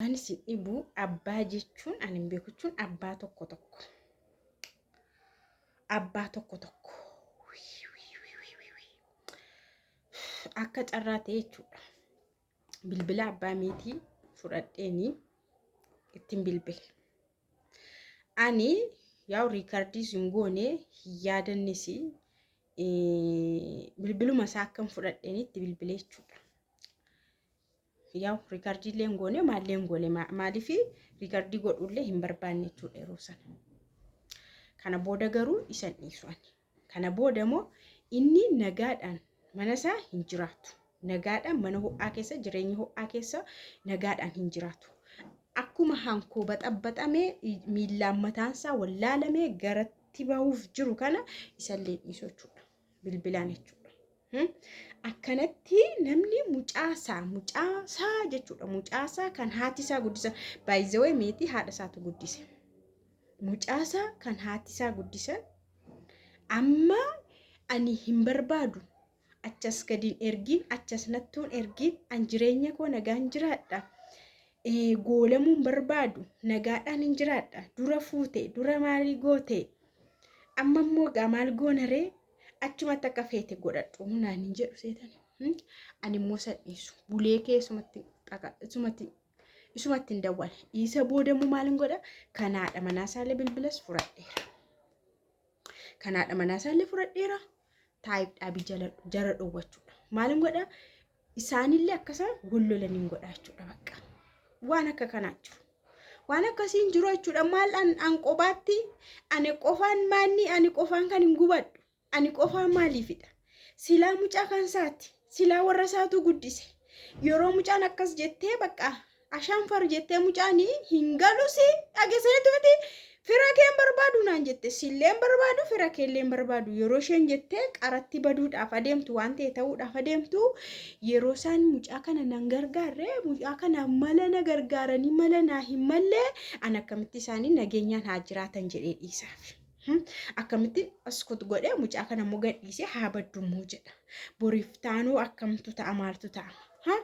Waan isin dhibuu abbaa jechuun ani hin beeku jechuun abbaa tokko tokko. Abbaa tokko tokko. Akka carraa ta'e jechuudha. Bilbila abbaa meetii fudhadheeni ittiin bilbile. Ani yaa'u riikardiis hin goone hin yaadannis bilbiluma isaa akkan fudhadheeni itti bilbile jechuudha. Yaa'u riikardii illee hin goone maallee hin goone maaliif riikardii godhuu illee hin barbaanne jechuudha yeroo sana. Kana booda garuu isan dhiisu ani. Kana booda immoo inni nagaadhaan mana isaa hin jiraatu. Nagaadhaan mana ho'aa keessa jireenya ho'aa keessa nagaadhaan hin jiraatu. Akkuma hankoo baxabaxamee miillaan mataan isaa wallaalamee garatti bahuuf jiru kana isallee dhiisu jechuudha. bilbilaan jechuudha. Hmm? Akkanatti namni mucaasaa mucaasaa jechuudha mucaasaa kan haati isaa guddisan baay'izawee meetii haadha isaatu guddise mucaasaa kan haati isaa guddisan amma ani hin barbaadu achas gadiin ergiin achas nattuun ergiin an jireenya koo nagaan jiraadha ee, goolamuun barbaadu nagaadhaan hin jiraadha dura fuute dura maalii goote amma immoo gaa maal goona ree achumatti akka feete godhadhu naan hin jedhu seetan Hmm? ani immoo san dhiisu bulee kee isumatti dhaqa isumatti isumatti hin dawwala isa booda immoo maal hin godha kanaadha manaa isaallee bilbilas fudhadheera kanaadha manaa isaallee fudhadheera taa'ibdhaa bijaladhu jara dhowwachuudha maal hin godha isaanillee akka isaan wal lolan hin godha jechuudha bakka. Waan akka kanaa jiru. Waan akkasii hin jiru jechuudha. Maal an, an qobaatti ani qofaan maanni ani qofaan kan hin gubadhu. Ani qofaa maaliifidha? Silaa mucaa kan isaati. Silaa warra isaatu guddise. Yeroo mucaan akkas jettee bakka Ashaan far jettee mucaani hin galusi dhageseetuuti fira keen barbaadu naan jette silleen barbaadu fira keelleen barbaadu yeroo isheen jettee qaratti baduudhaaf adeemtu waan ta'e ta'uudhaaf adeemtu yeroo isaan mucaa kana nan gargaarre mucaa kana mala na gargaaranii mala naa hin mallee an akkamitti isaanii nageenyaan haa jiraatan jedhee dhiisaaf. Akkamitti askut godhee mucaa kana immoo gadhiisee haa baddummoo jedha. Boriif taanuu akkamtu ta'a maaltu ta'a.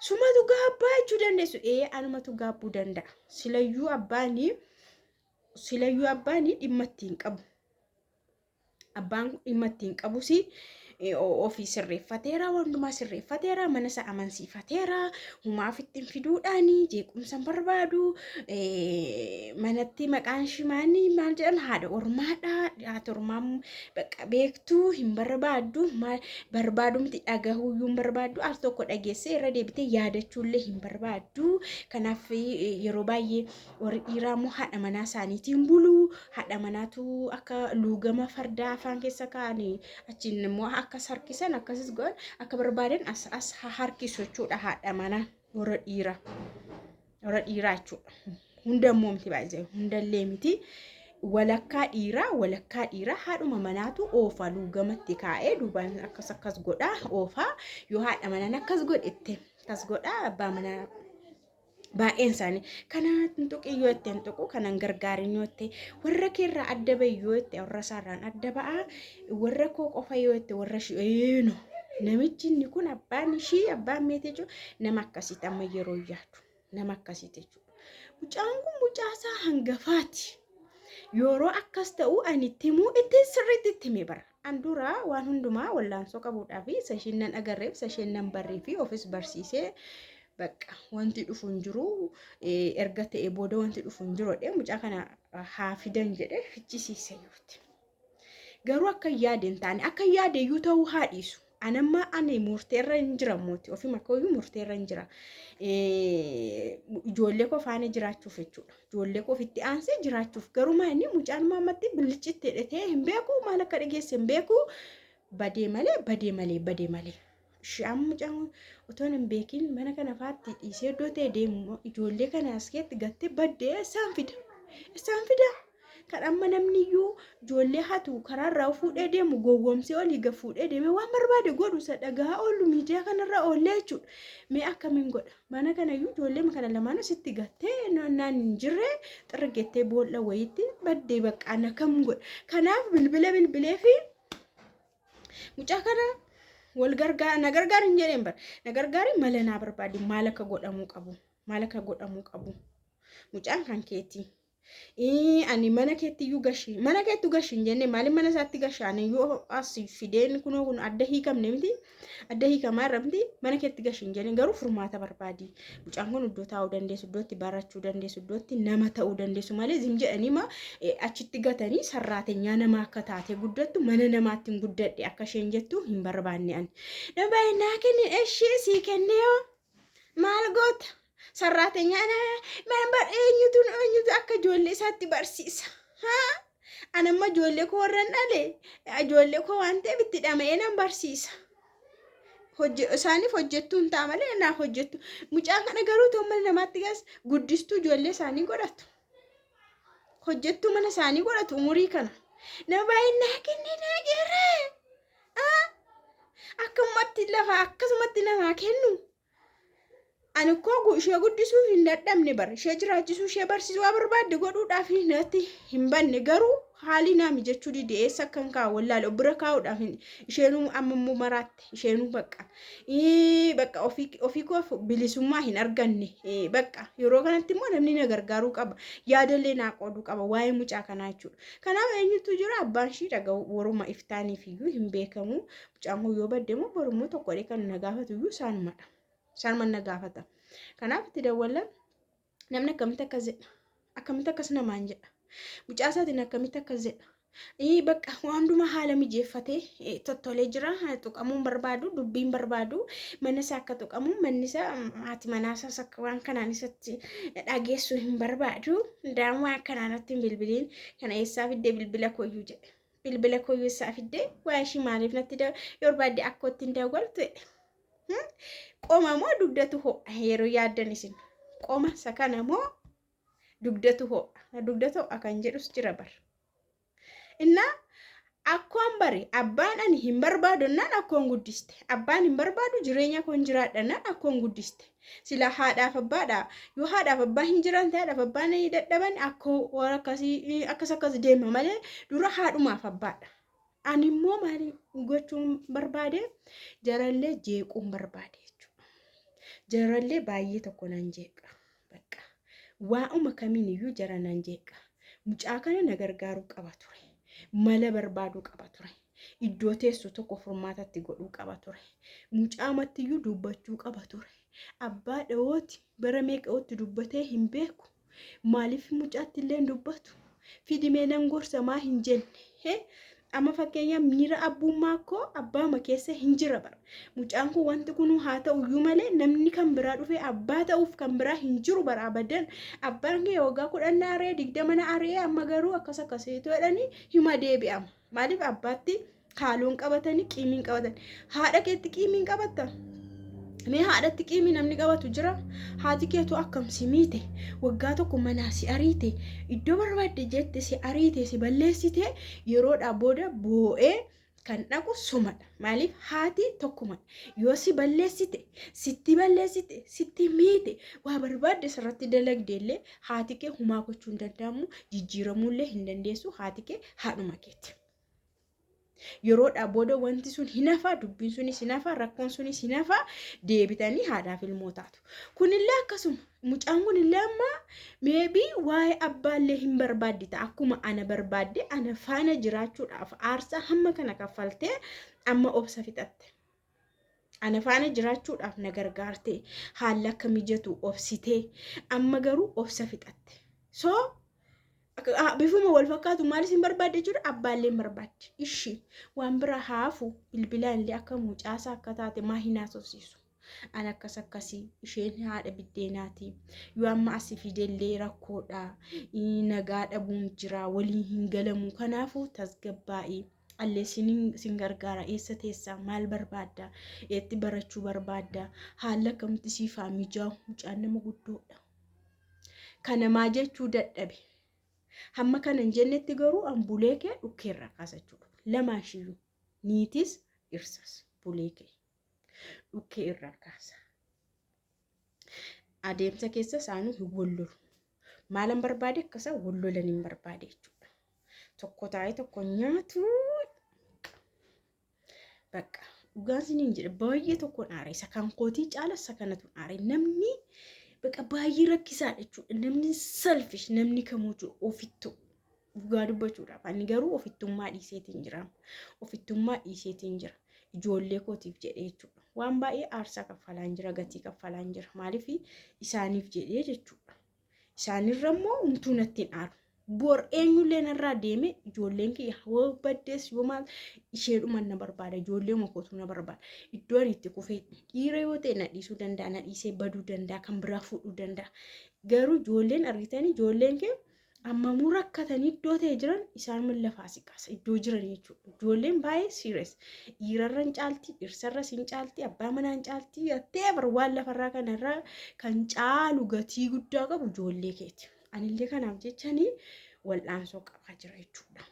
Sumatu gaabbaa jechuu dandeessu. Ee anumatu gaabbuu danda'a. Silayyuu abbaanii silayyuu abbaanii dhimma ittiin qabu. Abbaan dhimma ittiin qabus ofii sirreeffateera, wantumaa sirreeffateera, mana isaa amansiifateera, humaaf ittiin fiduudhaan jeequmsa hin barbaadu, manatti maqaan shimaanii maal jedhan haadha ormaadha, haati ormaa beektu. tuu hin barbaaddu maal barbaadumti dhagahuuyyuu hin barbaaddu al tokko dhageessee irra deebitee yaadachuullee hin barbaaddu kanaaf eh, yeroo baay'ee warri dhiiraa immoo haadha manaa isaaniitiin bulu haadha manaatu akka luugama fardaa afaan keessa kaa'anii achiin immoo akka sarkisan akkasis godhan akka barbaadan as as ha harkisu jechuudha haadha manaa warra dhiiraa. warra dhiiraa jechuudha. Hunda immoo miti baay'ee hundallee miti. Walakkaa dhiiraa walakkaa dhiiraa haadhuma manaatu oofaa luugamatti kaa'ee duubaan akkas akkas godhaa oofaa yoo haadha manaan akkas godhette akkas godhaa abbaa manaa baay'een isaanii kana hin tuqin yoo itti hin tuqu kanan gargaarin yoo itti warra keerraa adda ba'i yoo itti warra isaarraan adda ba'a warra koo qofa yoo itti warra ishii eenu namichi inni kun abbaan ishii abbaan meetii jechuun nama akkasitti amma yeroo yaadu nama akkasitti jechuudha. Mucaan kun mucaa isaa hangafaati. Yeroo akkas ta'u ani itti himuu itti sirriitti itti himee bara. An dura waan hundumaa wallaansoo qabuudhaa fi isa isheen nan agarreef isa isheen nan barree fi ofis barsiisee bakka wanti dhufu hin jiru erga ta'e booda wanti dhufu hin jiru jedhee mucaa kana haa fidan jedhee fichisiise yootti. Garuu akka hin yaade hin taane. Akka hin yaade iyyuu ta'uu haa dhiisu. Anamma ani murteerra hin jira mooti. Ofima koo iyyuu murteerra hin jira. Eh, Ijoollee koo faana jiraachuuf jechuudha. Ijoollee koo ofitti aansee jiraachuuf. Garuu maa inni mucaan maammatti bilicitti hidhatee hin beeku maal akka dhageesse hin beeku. Badee malee badee malee badee malee. Shi'aan mucaan otoo hin beekin mana kana faatti dhiisee iddoo ta'e deemu ijoollee kana askeetti gattee baddee isaan fida. Isaan fida. Kan amma namni iyyuu ijoollee hatu karaarraa fuudhee deemu gowwoomsee olii gad fuudhee deemee waan barbaade godhu isa dhagahaa oolu miidiyaa kanarra oollee jechuudha. Mee akkamiin godha? Mana kana iyyuu ijoollee kana lamaan asitti gattee naan hin jirre xirgettee boolla wayiitti baddee baqqaan akkam godha? Kanaaf bilbila bilbilee fi Mucaa kana wal gargaar na gargaar hin jedheen bar na gargaari mala naa barbaadi maal akka godhamuu qabu maal akka godhamuu qabu mucaan kan keetii. Ii, ani mana keetti iyyuu gashi mana keettu gashi hin jenne maaliin mana isaatti gasha ani iyyuu as fideen kunoo kun adda hiikamne miti adda hiikamaa irra miti mana keetti gashi hin jenne garuu furmaata barbaadi Mucaan kun iddoo taa'uu dandeessu, iddootti barachuu dandeessu, iddootti nama ta'uu dandeessu malee zim jedhanii ma eh, achitti gatanii sarraatenyaa nama akka taate guddattu mana namaatti hin guddadhe akka isheen jettu hin barbaanne ani. Nama baay'ee naa kenni eshii sii kennee hoo maal goota? Sarraatenyaa naa mana bar eenyutu eenyutu akka ijoollee isaatti barsiisa. Haa? An amma ijoollee koo warran dhale ijoollee koo waan ta'eef itti dhama'ee nan barsiisa. Hojje- Isaaniif hojjettuu hin ta'a malee naaf hojjettu. Mucaan kana garuu ta'u mana namaatti gas guddistuu ijoollee isaanii godhatu. Hojjettuu mana isaanii godhatu umurii kana. Nama baay'een naa kennee naa geerree. Akkamumatti lafa akkasumatti namaa kennu. Ani ukkoo ishee guddisuu hin dadhabne bar ishee jiraachisuu ishee barsiisuu waa barbaadde godhuudhaaf natti hin banne garuu haalii naa mijachuu dide eessa akkan kaa wallaale of bira kaa'uudhaaf isheenuu amma immoo maraatte isheenuu bakka bakka ofii koof bilisummaa hin arganne bakka yeroo kanatti immoo namni na gargaaruu qaba yaadallee naa qooduu qaba waa'ee mucaa kanaa jechuudha kanaaf eenyutu jira abbaan ishii dhaga'u waruma iftaaniif iyyuu hin beekamu Caamuu yoo badde immoo borummoo tokkodhee kan na gaafatu iyyuu isaanumadha. Isaanuma na gaafata. Kanaaf itti dawwallan namni akkamitti akkas jedha? Akkamitti akkas namaan jedha? Mucaa isaatiin akkamitti akkas jedha? Ii bakka waan hundumaa haala mijeeffatee eh, tottolee jira haa tuqamuun barbaadu dubbiin barbaadu mana isaa akka tuqamu manni isaa mm, haati manaa isaas akka waan kanaan isatti dhageessu hin barbaadu daamaa akkanaan natti hin bilbiliin kana eessaa fiddee bilbila koyyuu jedhe. bilbila koo yoo isaa fiddee waa ishii maaliif natti da yoo barbaadde akka ittiin daawwaltu jedhe qoma moo dugdatu ho'a yeroo yaaddan isin qoma isa kana moo dugdatu ho'a dugdatu ho'a kan jedhus jira bar innaa akkoon bari abbaan ani hin barbaadu innaan akkoon guddiste abbaan hin barbaadu jireenya koon jiraadha innaan akkoon guddiste Silaa haadhaaf abbaadha. Yoo haadhaaf abbaa hin jiran ta'e haadhaaf abbaan dadhaban akkoo waan akkasii eh, akkas akkas deema malee dura haadhumaaf abbaadha. Ani immoo maali gochuun barbaade jarallee jeequun barbaade jechuudha. Jarallee baay'ee tokko nan jeeqa. Bakka waa'uma kamiin iyyuu jara nan jeeqa. Mucaa kana na gargaaruu qaba ture. Mala barbaaduu qaba ture. iddoo teessu tokko furmaatatti godhuu qaba ture. Mucaamattiyyuu dubbachuu qaba ture. Abbaa dhawooti bara meeqa'ootti dubbatee hin beeku. Maaliif mucaatti illee hin dubbatu? Fidimee nan gorsa maa hin jenne? Amma fakkeenyaaf miira abbummaa koo abbaama keessa hin jira bara. Mucaan kun wanti kunuu haa ta'u iyyuu malee namni kan biraa dhufee abbaa ta'uuf kan biraa hin jiru bara abadan. Abbaan kee waggaa kudhan na ari'ee digdama na ari'ee amma garuu akkas akkasiitu jedhanii hima deebi'ama. Maaliif abbaatti haaloon qabatanii qiimiin qabatan? Haadha keetti qiimiin qabatta? Mee haadhatti qiimii namni qabatu jira? Haati keetu akkam si miite? Waggaa tokko manaa si ariite? Iddoo barbaadde jette si ariite si balleessite yeroodhaa booda boo'ee kan dhaqu sumadha. Maaliif haati tokkuma yoo si balleessite, sitti balleessite, sitti miite, waa barbaadde sirratti dalagde illee haati kee humaa gochuu hin danda'amu, jijjiiramuu illee hin dandeessu, haati kee haadhuma keeti. Yeroodhaa booda wanti sun hin hafaa, dubbiin sunis hin hafaa, rakkoon sunis hin hafaa, deebitanii haadhaaf ilmoo taatu. Kunillee akkasuma mucaan kunillee amma meebii waa'ee abbaallee hin barbaaddi ta'a. Akkuma ana barbaadde ana faana jiraachuudhaaf aarsaa hamma kana kaffaltee amma obsa fixatte. Ana faana jiraachuudhaaf na gargaarte haalli akka mijatu obsitee amma garuu obsa fixatte. So bifuma wal fakkaatu maal isin barbaadde jechuudha abbaallee hin barbaadde. Ishi waan biraa haafu bilbilaan illee akka mucaasaa akka taate maa hin haasofsiisu. An akkas akkasii isheen haadha biddeenaati. Yoo amma asi fidellee rakkoodha. Nagaa dhabuun jira waliin hin galamu kanaafuu tasgabbaa'ii. Alleessiin sin gargaara eessa teessa maal barbaadda eetti barachuu barbaadda haalli akkamitti siif haa mijaa'u mucaan nama guddoodha. Kana maa jechuu dadhabe. Hamma kana hin jennetti garuu an bulee kee dhukkeerraa kaasa jechuudha. Lamaan shiyyuu niitis dhirsas bulee kee. dhukkee irraa kaasa. Adeemsa keessa isaanii hin wallolu. Maalan barbaade akka isaan wallolan hin barbaade jechuudha. Tokko taa'ee tokko nyaatu bakka dhugaan siniin jedha baay'ee tokkoon aare isa kan kootii caala isa kanatu aare namni bakka baay'ee rakkisaadha jechuudha. Namni salfish namni kamuu jiru ofittu. Dhugaa dubbachuudhaaf ani garuu ofittummaa dhiiseetiin jira. Ofittummaa dhiiseetiin jira. Ijoollee kootiif jedhee jechuudha. Waan baay'ee aarsaa kaffalaan jira, gatii kaffalaan jira. Maaliif isaaniif jedhee jechuudha. Isaanirra immoo umtuu natti hin aaru. Bor eenyullee narraa deeme ijoolleen kiyya yoo baddees yoo maal isheedhuma na barbaada ijoollee makootu na barbaada. Iddoo ani itti kufee dhiira yoo ta'e na dhiisuu danda'a na dhiisee baduu danda'a kan biraa fuudhuu danda'a. Garuu ijoolleen argitanii ijoolleen kee Ammamuu rakkatanii iddoo ta'e jiran isaan min lafaa si kaasa iddoo jiran jechuudha. Ijoolleen baay'ee siires dhiirarra hin caalti dhirsarra hin caalti abbaa manaa hin caalti teebar waan lafarraa kanarra kan caalu gatii guddaa qabu ijoollee keeti. Anillee kanaaf jechanii wal'aansoo qabaa jira jechuudha.